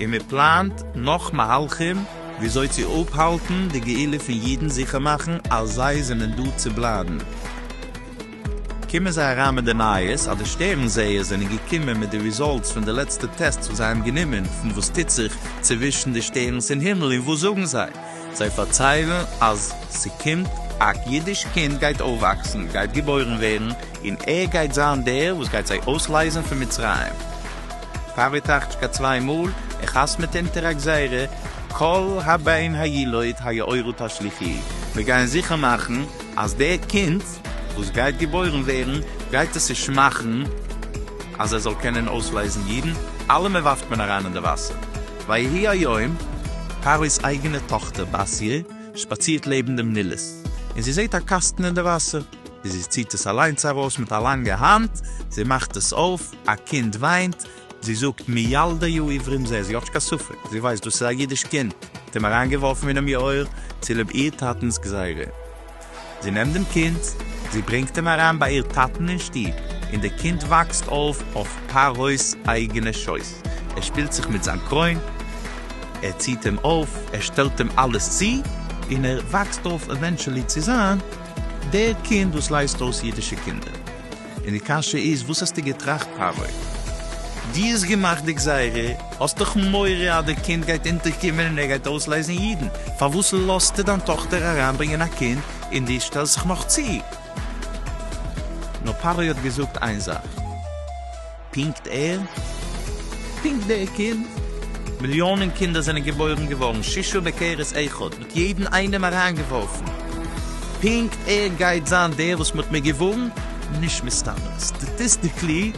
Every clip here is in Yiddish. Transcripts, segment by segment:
און מען פלאנט נאך מהלכים וויאזוי צו אפהאלטן די גאולה פון אידן זיכער מאכן אז זיי זענען דא צו בלייבן. קומען זיי אריין מיט די נייעס אז די שטערן זעערס זענען געקומען מיט די רעזאלטס פון די לעצטע טעסטס וואס זיי האבן גענומען פון וואס טוט זיך צווישן די שטערנס אין הימל און וואס זאגן זיי? זיי פארציילן אז ס'קומט א אידיש קינד גייט אויפוואקסן, גייט געבוירן ווערן, און ער גייט זיין דער וואס גייט זיי אויסלייזן פון מצרים. פאוויטאכטשקא צוויי מאל, איך האס מיט אונטער א גזירה, כל הבן הילוד היעורו תשליכי, מיר גייען זיכער מאכן אז דער קינד וואס גייט געבוירן ווערן גייט עס נישט מאכן אז ער זאל קענען אויסלייזן אידן, אלעמען ווארפט מען אריין אין די וואסער, ויהי היום, פרעה'ס אייגענע טאכטער בת י שפאצירט לעבן דעם נילוס, און זי זעהט א קאסטן אין די וואסער, זי ציהט עס אליינס ארויס מיט א לאנגע האנט, זי מאכט עס אויף, א קינד וויינט, זי זאגט מילדי יו עיוורים זי האט נישט קיין ספק, זי ווייסט דאס איז א אידיש קינד, האט אים אריינגעווארפן אינעם יאור צילוב איר טאטנס גזירה. זי נעמט דעם קינד, זי ברענגט אים אריין ביי איר טאטן אין שטוב, און דער קינד וואקסט אויף אויף פרעה'ס אייגענע שויס, ער שפילט זיך מיט זיין קרוין, ער ציט אים אויף, ער שטעלט אים אלעס צו, און ער וואקסט אויף עווענטשעלי צו זיין דער קינד וואס לייזט אויס אידישע קינדער. און די קשיא איז וואס האסטו געטראכט פרעה? דו האסט געמאכט די גזירה, האסט דאך מורא אז די קינד גייט אונטערקומען און ער גייט אויסלייזן אידן, פארוואס לאזטו דיין טאכטער אריינברענגען א קינד און דו שטעלסט זיך נאך צו? נאר פרעה האט געזאגט איין זאך. פּונקט ער? פּונקט דער קינד? מיליאָנען קינדער זענען געבוירן געוואָרן שישה בקערס אחד, מ'האָט יעדן איינעם אַריינגעוואָרפן. פּונקט ער גייט זיין דער וואָס מ'האָט מיר געוואָרן? נישט מסתּמא. סטאַטיסטיקלי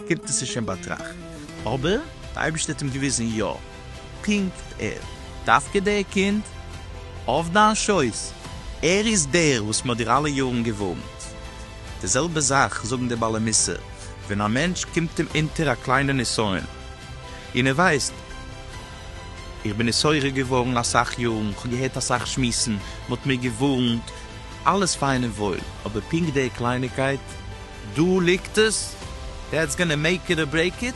קומט עס נישט אין באַטראַכט. אָבער דער אייבערשטער האָט אים געוויזן יאָ. פּונקט ער? דווקא דער קינד? אויף דיין שויס? ער איז דער וואָס מ'האָט דיר אַלע יאָרן געוואָרנט. די זעלבע זאך זאגן די בעלי מוסר ווען א מענטש קומט אים אונטער א קליינע נסיון און ער ווייסט, איך בין נשורר געווארן אסאך יארן, איך האב געהערט אסאך שמועסן, מען האט מיר געווארנט, אלעס פיין און וואויל, אבער פונקט די קלייניגקייט, דא ליגט עס, דעטס גאנע מעיק איט אר ברעיק איט,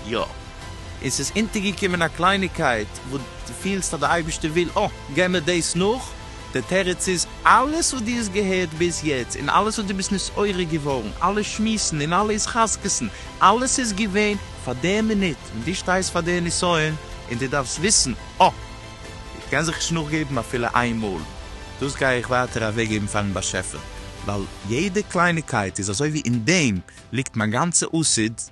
יא, און ס'איז אונטערגעקומען א קלייניגקייט וואס דו פילסט אז די אייבערשטער וויל, אה, גיי מיר דאס נאך. די תירוץ איז, אלעס וואס דו האסט געהערט ביז יעצט, און אלעס וואס דו ביסט נתעורר געווארן, אלע שמועסן און אלע התחזקות'ן, אלעס איז געווען פאר די מינוט ווען דו שטייסט פאר די נסיון, און דו דארפסט וויסן, אה! איך קען זיך נישט נאכגעבן אפילו איין מאל, דאס גיי איך ווייטער אוועקגעבן פאר'ן באשעפער, ווייל יעדע קלייניקייט איז אזוי ווי אין דעם ליגט מיין גאנצע עתיד,